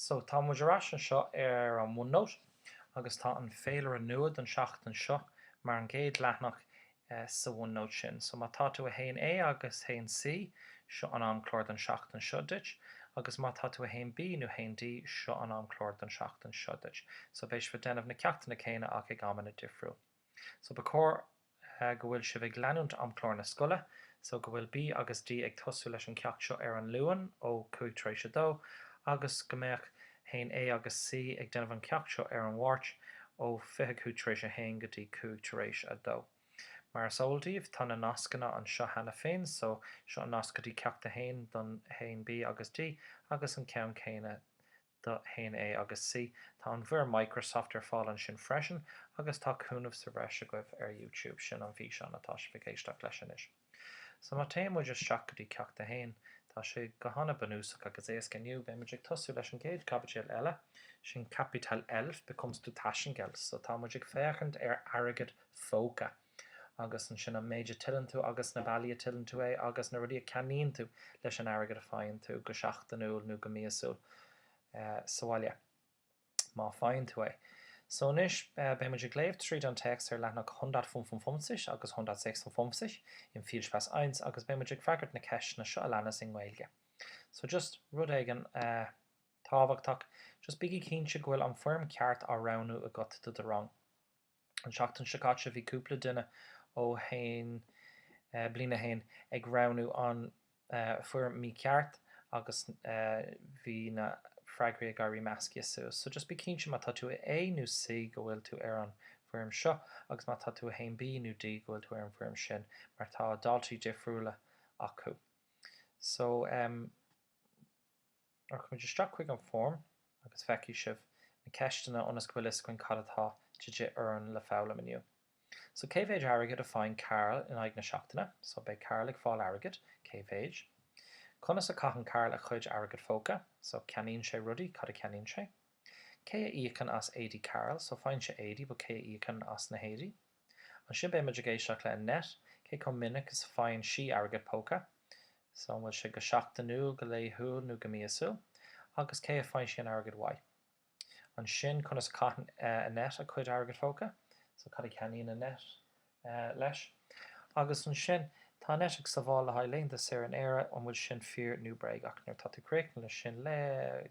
So, tá muid ar ais anseo ar an OneNote agus tá an féilire nua don seachtain seo mar an gcéad leathnach sa OneNote sin. So, má tá tú i 1A agus 1C, seo an amchlár don seachtain seo duit, agus má tá tú i 1B nó 1D, seo an amchlár don seachtain seo duit. So, beidh sibh ag déanamh na ceachtanna céanna ach ag amanna difriúil. So ba chóir go bhfuil sibh ag leanúint amchlár na scoile. So go bhfuil B agus D ag tosú leis an gceacht seo ar an Luan ó cúig tar éis a dó agus go mbeadh 1A agus C ag déanamh an ceacht seo ar an Máirt ó fiche cúig tar éis a haon go dtí cúig tar éis a dó. Mar is eol daoibh tá na nascanna anseo cheana féin so seo an nasc go dtí ceacht a haon don 1B agus D agus an ceann céanna don do 1A agus C. Tá an bhfoirm Microsoft ar fáil ansin freisin agus tá cúnamh sa bhreis agaibh ar YouTube, sin an físeán atá sibh ag éisteacht leis anois. So má téann muid isteach go dtí Ceacht 1, tá sé go hana bunúsach agus éasca. Inniu, beidh muid ag tosú leis an gcéad caibidil eile, sin Kapitel 11, Bekommst du Taschengeld? So tá muid ag féachaint ar airgead phóca. agus ansin an méid a tuilleann tú agus na bealaí a tuilleann tú é agus na rudaí a ceannaíonn tú leis an airgead a faigheann tú, go seachtainiúil nó go míosúil sa bhaile, má faigheann tú é. So anois, beidh muid ag léamh tríd an téacs ar leathanach Hundertfünfundfünfzig agus Hundertsechsundfünfzig in Viel Spaß Eins agus beidh muid ag freagairt na ceisteanna seo a leanas i nGaeilge. So just rud éigin tábhachtach, just bígí cinnte go bhfuil an foirm ceart á roghnú agat do do rang. An tseachtain seo caite bhí cúpla duine ó haon bliain a haon ag roghnú an foirm mícheart agus bhí na freagraí ag éirí measctha suas. So just bí cinnte má tá tú i A nó C go bhfuil tú ar an bhfoirm seo agus má tá tú i 1B nó D go bhfuil tú ar an bhfoirm sin mar tá daltaí difriúla acu. So em. Rachaimid isteach chuig an foirm agus feicfidh sibh na ceisteanna ionas go bhfuil a fhios againn cad atá de dhíth orainn le foghlaim inniu. So, cé mhéid airgid a faigheann Karl in aghaidh na seachtaine? So, beidh Karl ag fáil airgid. Cé mhéid? Conas a caitheann Karl a chuid airgead phóca? So, ceannaíonn sé rudaí. Cad a cheannaíonn sé? Cé a íocann as éadaí Karl? So, faigheann sé éadaí but cé a íocann as na héadaí? Ansin beidh muid ag éisteacht le Annette, cé chomh minic is a faigheann sí airgead póca, so an bhfuil sé go seachtainiúil, go laethúil nó go míosúil, agus cé a faigheann sí an airgead uaidh. Ansin conas a chaitheann Annette a cuid airgead póca, so cad a cheannaíonn Annette leis. Agus ansin tá Annette ag sabháil le haghaidh laethanta saoire in Éire, an bhfuil sin fíor nó bréagach. Nuair atá tú críochnaithe leis sin, léigh.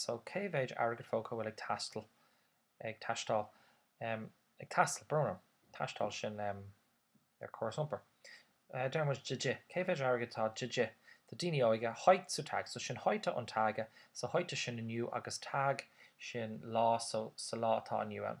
so cé mhéid airgead póca a bhfuil ag taisteal, ag teastáil, ag taisteal, brón orm, taisteal sin ar córas iompair. Deir muid de dhith, cé mhéid airgid atá de dhith do daoine óige, heutzutage, so sin heute an Tage, so heute sin inniu agus Tag, sin lá, so sa lá atá inniu ann.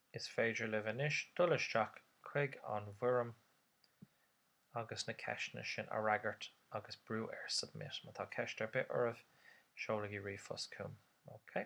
Is féidir libh anois dul isteach chuig an bhfoirm agus na ceisteanna sin a fhreagairt agus brú ar 'Submit'. Má tá ceist ar bith agaibh, seolaigí ríomhphost chugam. OK.